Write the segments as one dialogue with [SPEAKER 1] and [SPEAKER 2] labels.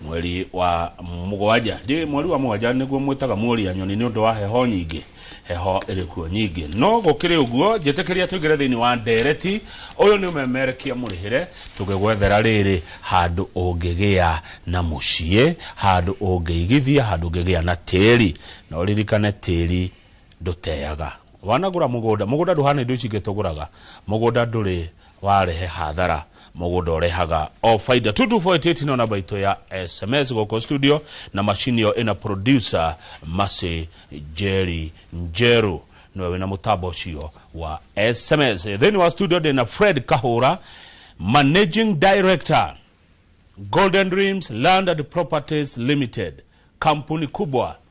[SPEAKER 1] Mweri wa mũgwanja, ndĩ mweri wa mũgwanja nĩguo mwĩtaga mũria nyoni nĩ ũndũ wa heho nyingĩ, heho ĩrĩ kuo nyingĩ. No gũkĩrĩ ũguo, njĩtĩkĩria tũingĩre thĩinĩ wa ndeereti, ũyũ nĩ ũmemerekia mũrĩhĩre, tũgĩgwethera rĩrĩ, handũ ũngĩgĩa na mũciĩ, handũ ũngĩigithia, handũ ũngĩgĩa na tĩĩri. Na ũririkane tĩĩri. ndũteaga. Wanagũra mũgũnda, mũgũnda ndũhana indo ici ingĩ tũgũraga, mũgũnda ndũrĩ warehe hathara, mũgũnda ũrehaga o baida. 22488 no namba itũ ya SMS gũkũ studio, na macini ĩyo ĩna producer Mercy Njeri Njeru nĩwe wĩna mũtambo ũcio wa SMS. Thĩinĩ wa studio ndĩna Fred Kahũra, Managing Director Golden Dreams Land and Properties Limited, kampuni kubwa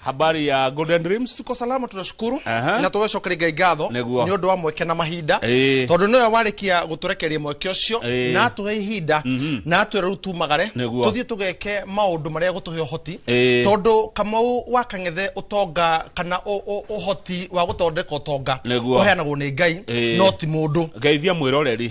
[SPEAKER 2] habari ya
[SPEAKER 1] golden dreams tuko salama tunashukuru
[SPEAKER 2] Aha. na tũgĩcokeria ngatho Nĩguo. nĩ ũndũ wa mweke na mahinda Ĩĩ. tondũ nĩwe warĩkia gũtũrekeria mweke ũcio Ĩĩ. na atũhe ihinda na atwĩra rĩu tumagare Nĩguo. tũthiĩ tũgeke maũndũ marĩa gũtũhe ũhoti Ĩĩ. tondũ kamau wa kang'ethe ũtonga kana ũ- ũ- ũhoti wa gũthondeka ũtonga Nĩguo. ũheanagwo nĩ ngai Ĩĩ. no ti mũndũ geithia mwĩroreri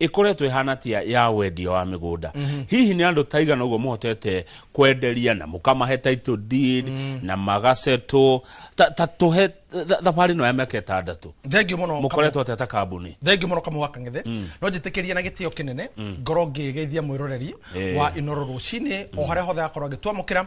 [SPEAKER 1] ĩkoretwo ĩhana tia ya wendia wa mĩgũnda mhm. hihi nĩ andũ taigana ũguo mũhotete kwenderia na mũkamahe title deed mm. na magaceto ta tũhe thabarĩ no ya mĩaka ĩtandatũ thengiũ mũno mũkoretwo
[SPEAKER 2] atĩa ta kambuni
[SPEAKER 1] thengiũ mũno kamwe wa kang'ethe
[SPEAKER 2] mm. no njĩtĩkĩrie na gĩtĩo kĩnene mm. ngorwo ngĩgeithia mwĩroreri wa inoro rũcinĩ o harĩa hothe akorwo agĩtwamũkĩra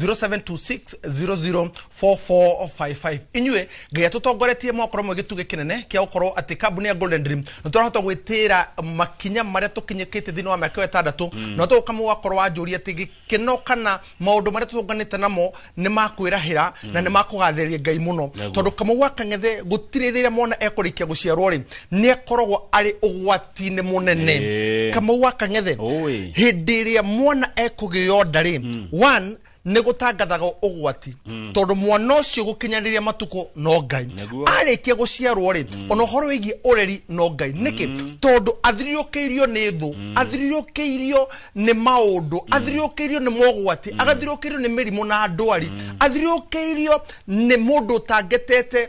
[SPEAKER 2] 0726004455 inyuĩ ngai atũtongoretie mwakorwo mwe gĩtugĩ kĩnene kĩa gũkorwo atĩ kambuni ya golden dream nĩ tũrahota gwĩtĩra makinya marĩa tũkinyĩkĩte thĩinĩ wa mĩaka ĩyo ĩtandatũ na tũgũkamũ wakorwo wanjũria atĩ gĩkeno kana maũndũ marĩa tũtũnganĩte namo nĩ makwĩrahĩra na nĩ makũgathĩrĩria ngai mũno Naguo. tondũ kamau wa kang'ethe gũtirĩ rĩrĩa mwana ekũrĩkia gũciarwo rĩ nĩ akoragwo arĩ ũgwati ũgwati-inĩ mũnene Eh. kamau wa kang'ethe Oi. hĩndĩ ĩrĩa mwana ekũgĩo nda rĩ one nĩ gũtangathaga ũgwati tondũ mwana ũcio gũkinyanĩria matukũ no ngai Nĩguo. arĩkia gũciarwo rĩ ona ũhoro wĩgiĩ ũreri no ngai nĩkĩ tondũ athirirũkĩirio nĩ thũ athirirũkĩirio nĩ maũndũ athirirũkĩirio nĩ mogwati athirirũkĩirio nĩ mĩrimũ na ndwari athirirũkĩirio nĩ mũndũ ũtangetete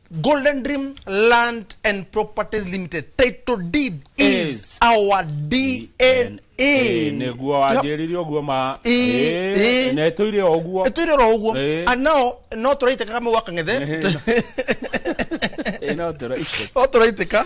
[SPEAKER 2] Golden Dream Land and Properties Limited title deed is, our DNA niguo
[SPEAKER 1] wanjiriria uguo ma na etuire o uguo etuire o uguo and now no turaiteka kama gwaka ngethe no turaiteka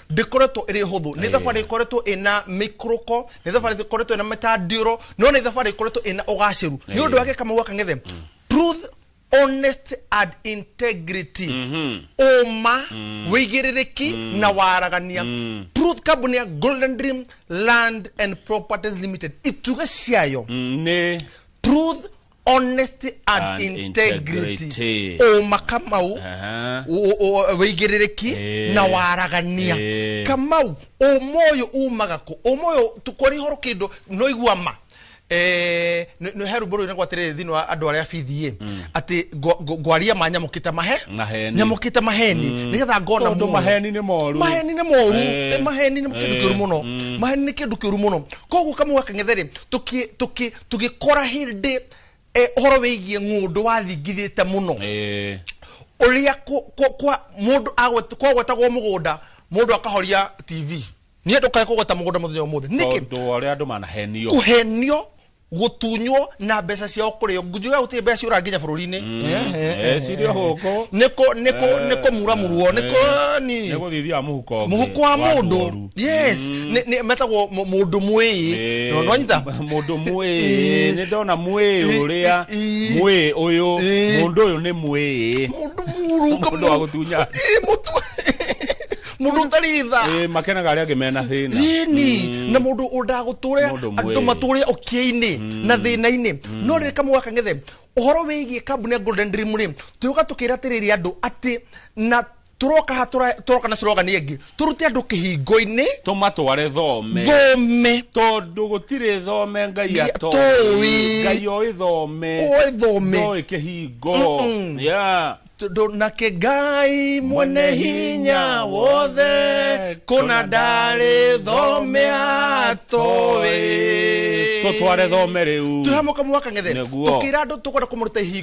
[SPEAKER 2] ndĩkoretwo ĩrĩ hũthũ nĩ thabarĩ ĩkoretwo ĩna mĩikũrũko nĩ thabarĩ ĩkoretwo ĩna mĩtandĩro no nĩ thabarĩ ĩkoretwo ĩna ũgacĩru nĩ ũndũ wake kamau akangethe truth honest and integrity ũma wĩigĩrĩrĩki na waragania truth kambuni ya golden dream land and properties limited ituge ciayo nĩ
[SPEAKER 1] truth
[SPEAKER 2] honesty and, And integrity integrity. ũma kamau Aha. ũ- ũ- wĩigĩrĩrĩki Eh. na waragania Eh. kamau ũma ũyũ umaga kũ ũma ũyũ tũkore ihoro kĩndũ no igua ma Eh, nĩ- nĩ he rũmbũ rũu nĩ gwatĩrĩrĩ thĩinĩ wa andũ arĩa bithi ĩ atĩ ngo- ngo- ngwaria ma nyamũkĩte mahe Maheni. nyamũkĩte maheni nĩgetha ngona Tondũ muoyo. maheni nĩ moru.
[SPEAKER 1] maheni nĩ moru
[SPEAKER 2] Eh. Eh, maheni nĩ kĩndũ Eh. kĩũru mũno Mm. maheni nĩ kĩndũ kĩũru mũno koguo kamwe gakang'etherĩ tũgĩkora hĩndĩ eh, ũhoro wĩgiĩ ng'ũndũ wathingithĩte mũno Eh, ũrĩa kũ- kũ- kwa mũndũ agwet- kwagwetagwo mũgũnda mũndũ akahoria tv niĩ ndũkae
[SPEAKER 1] kũgweta
[SPEAKER 2] mũgũnda mũthenya ũmũthĩ
[SPEAKER 1] nĩkĩ
[SPEAKER 2] tondũ wa ũrĩa andũ
[SPEAKER 1] manahenio
[SPEAKER 2] kũhenio gũtunywo na mbeca ciao kũrĩo njuga gũtirĩ mbeca ciũra nginya bũrũri-inĩ Eh,
[SPEAKER 1] cirĩ o gũkũ.
[SPEAKER 2] nĩkũmuramurwo nĩkũni nĩgũthithia
[SPEAKER 1] mũhuko ũngĩ mũhuko wa mũndũ
[SPEAKER 2] yes nä nä metagwo må- mũndũ mwĩĩ Ĩĩ, No, nĩwanyita mũndũ mwĩĩ
[SPEAKER 1] Ĩĩ. nĩ ndona mwĩĩ Ĩĩ, ũrĩa ĩĩ. mwĩĩ ũyũ Ĩĩ. mũndũ ũyũ nĩ mwĩĩ mũndũ mũrunga
[SPEAKER 2] mũndũ wa gũtunya mũndũ ũtarĩ tha Ĩĩ, makenaga arĩa angĩ mena
[SPEAKER 1] thĩna yini na mũndũ
[SPEAKER 2] ũndagũtũrĩa Mũndũ andũ mwĩĩ. matũrĩa ũkĩa-inĩ na thĩna-inĩ no rĩrĩ kamũga kang'ethe ũhoro wĩgiĩ kambuni ya golden dream rĩ tũyũka tũkĩra atĩrĩrĩ andũ atĩ na turoka ha tura- turoka na slogan ĩngĩ turute andũ kĩhingo-inĩ tũmatware
[SPEAKER 1] thome thome tondũ gũtirĩ thome ngai Ngai atoĩ atoĩ. ngai oĩ thome Oĩ thome. ndoĩ kĩhingo Mm-mm. Yeah.
[SPEAKER 2] tondũ nake ngai mwene hinya wothe kũna ndarĩ thome atoĩ
[SPEAKER 1] tũtware thome rĩu tũhamũka mwaka ng'ethe
[SPEAKER 2] Nĩguo. tũkĩra andũ tũkwenda kũmũruta ihingo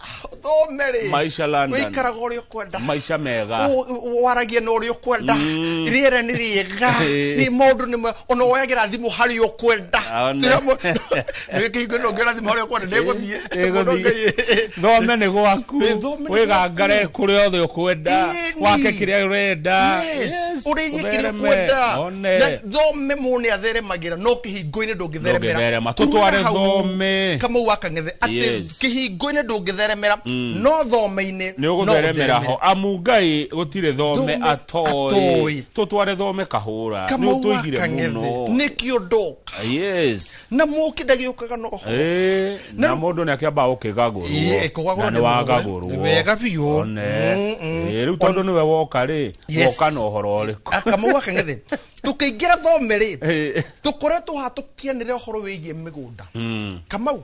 [SPEAKER 1] thome rĩ Maisha London. wĩikaraga ũrĩa ũkwenda
[SPEAKER 2] maisha mega
[SPEAKER 1] Ũ- ũ- waragia na ũrĩa
[SPEAKER 2] ũkwenda Mm. rĩera nĩ rĩega Eh. nĩ maũndũ nĩ ma- ona woyagĩra thimũ harĩ ũkwenda Aone. nĩkĩhingo no ngĩra thimũ harĩ ũkwenda ndĩgũthiĩ Ndĩgũthiĩ.
[SPEAKER 1] thome nĩ gwaku Ĩ, thome nĩ wĩgangare kũrĩa othe ũkwenda Ĩni. wake kĩrĩa ũrenda Yes, ũrĩithie
[SPEAKER 2] kĩrĩa ũthereme, ũkwenda one. Na thome mũndũ nĩ atheremagĩra no kĩhingo-inĩ ndũngĩtheremera Ndũngĩtherema. Tũtware Kuma hau,
[SPEAKER 1] thome. kamau akang'ethe
[SPEAKER 2] atĩ Yes. kĩhingo-inĩ ndũngĩtheremera mm. no thome-inĩ nĩ ũgũtheremera
[SPEAKER 1] ho amu ngai gũtirĩ thome atoĩ tũtware thome kahũra nĩũtũigire mũno nĩkĩo ndoka
[SPEAKER 2] na mũkĩ ndagĩũkaga no na mũndũ
[SPEAKER 1] nĩ akĩamba gũkĩgagũrwo nĩ wagagũrwo wega biũ rĩu tondũ nĩwe woka rĩ woka na ũhoro ũrĩkũ akamau akang'ethe
[SPEAKER 2] tũkĩingĩra thome rĩ tũkoretwo hatũkĩanĩre ũhoro wĩgiĩ mĩgũnda mm. kamau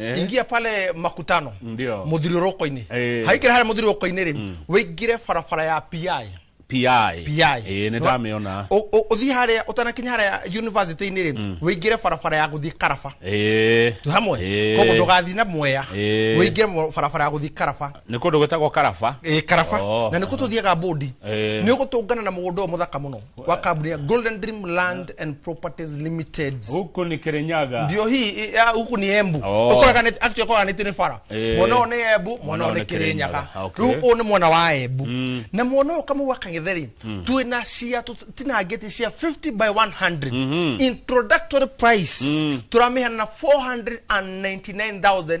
[SPEAKER 2] Eh. ingia pale makutano Ndio. muthirirũko-inĩ Eh. haikĩra harĩa muthirirũko-inĩ rĩ wĩingĩre barabara ya pi pi pi eh nä ndamä
[SPEAKER 1] ona Ũ- ũ- ũthiĩ harĩa
[SPEAKER 2] ũtanakinya harĩa yunivasĩtĩ-inĩ rĩ wĩingĩre barabara ya gũthiĩ karaba eh tu hamwe Eh. koguo ndũgathiĩ na mwea Eh. wĩingĩre mo- barabara ya gũthiĩ karaba nä kå ndå gwä tagwo karaba
[SPEAKER 1] Ĩ, karaba Oh. na nä kå
[SPEAKER 2] tå thiaga mbåndi Eh. nä å gå tå ngana na må gå ndå å må thaka må no kwa kaburi ya Golden Dream Land and Properties Limited huku ni kirinyaga
[SPEAKER 1] ndio hii i- ya,
[SPEAKER 2] huku ni embu Oh. Okoragane- actually okoraganĩtio nĩ bara Eh. mwana ũyũ nĩ embu mwana Mwana ũyũ ũyũ nĩ nĩ kĩrĩnyaga Kĩrĩnyaga. Okay. rĩu ũyũ nĩ mwana wa embu na mwana ũyũ kamau akang'etheri twĩ na cia tinangĩti cia 50 by 100 introductory price tũramĩhana na 499000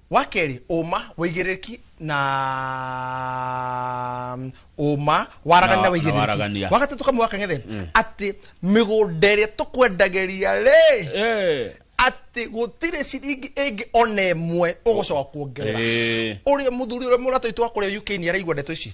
[SPEAKER 2] wa kerĩ ũma wĩigĩrĩrĩki na ũma waragania na Na- na wĩigĩrĩrĩki waragania. wa gatatũ kamwe wakang'ethe atĩ mĩgũnda ĩrĩa tũkwendagĩria rĩ Eh, atĩ gũtirĩ ciringi ĩngĩ ona ĩmwe ũgũcoka kuongerera eh. ũrĩa mũthuri ũrĩa mũrata witũ wa kũrĩa uk nĩ araigua ndeto ici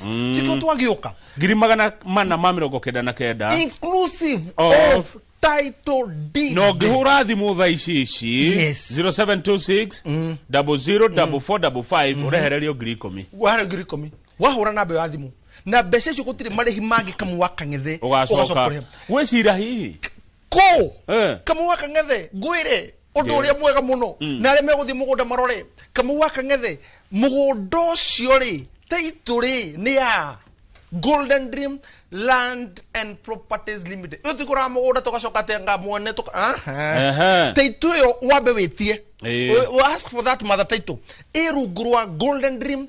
[SPEAKER 1] what mm. tikio
[SPEAKER 2] twagioka ngiri magana
[SPEAKER 1] mana ma mirongo kenda na kenda inclusive
[SPEAKER 2] of, of title deed no ngihura thimu
[SPEAKER 1] tha ici ici yes. 0726 mm. 004455 mm. urehererio ngiri ikumi wahara ngiri ikumi
[SPEAKER 2] wahura namba ya thimu na mbeca icio gutiri marihi mangi kamu wakang'ethe ugacoka
[SPEAKER 1] gwicira hihi kũ Eh.
[SPEAKER 2] kamau wa kang'ethe ngwĩre ũndũ Ndio. ũrĩa mwega mũno na arĩa megũthiĩ mũgũnda marore kamau wa kang'ethe mũgũnda ũcio rĩ taitũ rĩ nĩ ya golden dream land and properties limited ĩyo tikũraga mũgũnda tũgacoka tenga mwene tũka- Aha. Ehe. taitũ ĩyo wambe wĩtie Ĩĩ. We- we ask for that mother title ĩ rungu rwa golden dream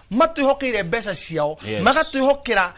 [SPEAKER 2] matwihokeire mbeca ciao Yes. magatwihokera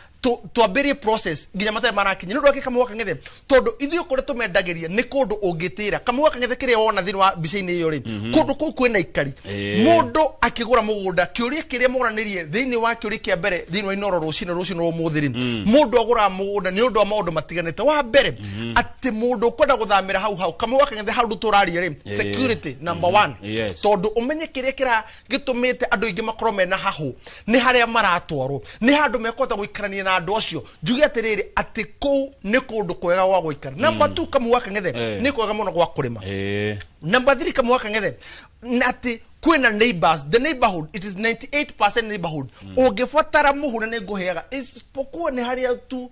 [SPEAKER 2] twambĩrie process nginya matarĩ marakinya nĩ ũndũ wake kamũgwa kang'ethe tondũ ithuĩ kũrĩa tũmendagĩria nĩ kũndũ ũngĩtĩra kamũgwa kang'ethe kĩrĩa wona thĩinĩ wa mbica-inĩ ĩyo rĩ kũndũ kũu kwĩna ikari Ĩĩ. mũndũ akĩgũra mũgũnda kĩũria kĩrĩa moranĩrie thĩinĩ wa kĩũria kĩa mbere thĩinĩ wa inoro rũcinĩ rũcinĩ rwa ũmũthĩ rĩ mũndũ agũraga mũgũnda nĩ ũndũ wa maũndũ matiganĩte wa mbere atĩ mũndũ ũkwenda gũthamĩra hau hau kamũgwa kang'ethe hau ndũ tũraria rĩ security number one Yes. tondũ ũmenye kĩrĩa kĩra gĩtũmĩte andũ aingĩ makorwo mena hahũ nĩ harĩa maratwarwo nĩ handũ mekũhota gũikarania na andũ acio njuge atĩrĩrĩ atĩ kũu nĩ kũndũ kwega gwa gũikara namba tu kamũgwa kang'ethe Eh. nĩ kwega mũno gwa kũrĩma Eh. namba thiri kamũgwa kang'ethe na atĩ kwĩna neighbors the neighborhood it is 98 neighborhood ũngĩbatara mũhu na nĩ ngũheaga isipokuwa nĩ harĩa tu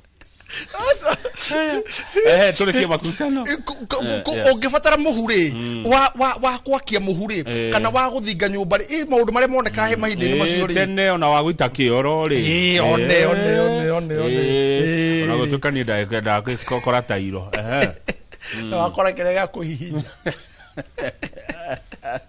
[SPEAKER 1] eh tuli kia makutano Eh, ku- ku- Eh, ku- yes. ũngĩbatara
[SPEAKER 2] mũhu rĩ wa- wa- wa kwakia mũhu rĩ Eh. kana wa gũthinga nyũmba rĩ ĩ maũndũ marĩa monekaga he mahinda-inĩ macio Eh, rĩ tene ona wa gwita
[SPEAKER 1] kioro ri Eh, one, one, one,
[SPEAKER 2] one, one. Eh.
[SPEAKER 1] ona gutuka ni ndakenda kokora tairo eh
[SPEAKER 2] na wakora kĩrĩa gĩa kũhihinya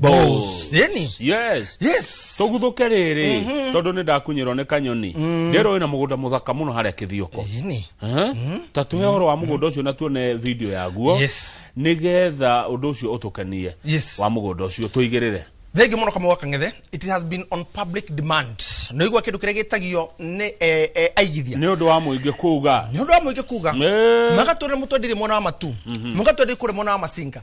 [SPEAKER 1] Boss. Ĩni. yes yes tũguthũke rĩrĩ tondũ nĩ ndakunyĩrwo nĩ kanyoni ndĩrũĩ na mũgũnda mũthaka mũno harĩa kĩthioko Ĩni. Aha. ta tuhe ũhoro wa mũgũnda ũcio na tuone video yaguo Yes. nĩgetha ũndũ ũcio ũtũkenie Yes. wa mũgũnda ũcio tũigĩrĩre thengi
[SPEAKER 2] muno kamwe wakang'ethe it has been on public demand nä igua kä ndå kä rä a gä tagio nä eh, eh, aigithia nĩ ũndũ wa mũingĩ
[SPEAKER 1] kuga nä å ndå wa må ingä kuga
[SPEAKER 2] Eh. magatwä rä må twendirie mwena wa matu magatwä rä kå rä mwena wa macinga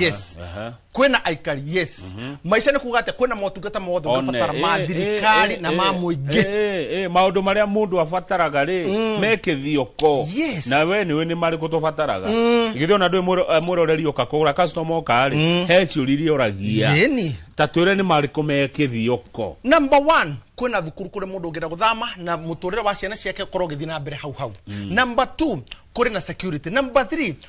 [SPEAKER 2] yes Aha. kwĩna aikari yes maica nĩ kuga atĩ kwĩna motungata mothe One, ũrabatara ma eh, thirikari eh, na eh, ma eh, mũingĩ eh, eh, maũndũ marĩa
[SPEAKER 1] mũndũ abataraga rĩ me kĩthioko Yes. na we nĩwe nĩ marĩkũ tũbataraga githĩ ona ndũĩ mũro- eh, mũroreri ũka kũgũra customer ũka rĩ he ciũria iria ũragia yeni ta twĩre
[SPEAKER 2] nĩ marĩkũ
[SPEAKER 1] me kĩthioko number one
[SPEAKER 2] kwĩna thukuru kũrĩ mũndũ ũngĩenda gũthama na mũtũrĩre wa ciana ciake ũkorwo ũgĩthiĩ na mbere hau hau number two kũrĩ na security number three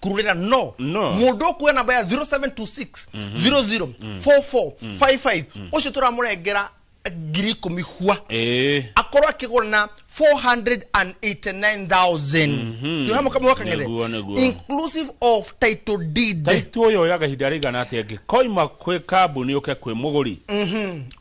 [SPEAKER 2] kurulira no No. mundu ukuya namba ya 0726 00 44 55 ucio turamurengera ngiri ikumi hwa Eh. akorwo akigura na 489000 tuhe mukama wa kang'ethe Nĩguo, nĩguo. inclusive of title deed taitu uyu oya kahinda
[SPEAKER 1] rigana atia ngikoima kwi kambuni uke kwi muguri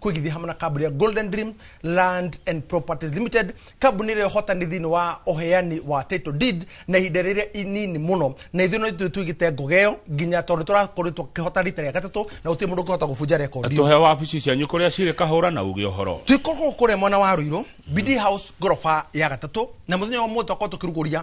[SPEAKER 2] kwĩgithia hamwe na kambuni ya golden dream land and properties limited kambuni ĩrĩa ĩhotani thĩinĩ wa ũheani wa title deed na ihinda rĩrĩa inini mũno na ithuĩ no ithuĩ twĩgĩte ngoga ĩyo nginya tondũ tũrakorwo tũkĩhota rita rĩa gatatũ na gũtirĩ mũndũ ũngĩhota gũbunja rekondi ĩyo. tũhe wabici cianyu
[SPEAKER 1] kũrĩa cirĩ kahũra na uge ũhoro twĩkorwo kũrĩa mwena wa
[SPEAKER 2] rũirũ bd house ngoroba ya gatatũ na mũthenya wa mũthĩ twakorwo tũkĩrugũria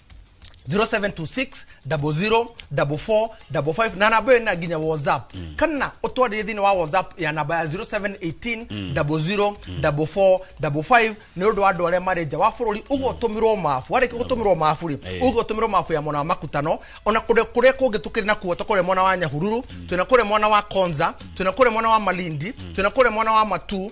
[SPEAKER 2] 0726 00 44 55 na namba ĩyo ĩna nginya whatsapp mm. kana ũtwarĩre thĩinĩ wa whatsapp ya namba ya 0718 mm. 00 44 55 nĩ ũndũ wa andũ arĩa marĩ nja wa bũrũri ũguo ũtũmĩrwo mabu warĩkia gũtũmĩrwo mabu rĩ Eh. ũguo ũtũmĩrwo mabu ya mwena wa makutano ona kũrĩa kũrĩa kũngĩ tũkĩrĩ na kuo tũkũrĩa mwena wa nyahururu twĩna kũrĩa mwena wa konza twĩna kũrĩa mwena wa malindi twĩna kũrĩa mwena wa matu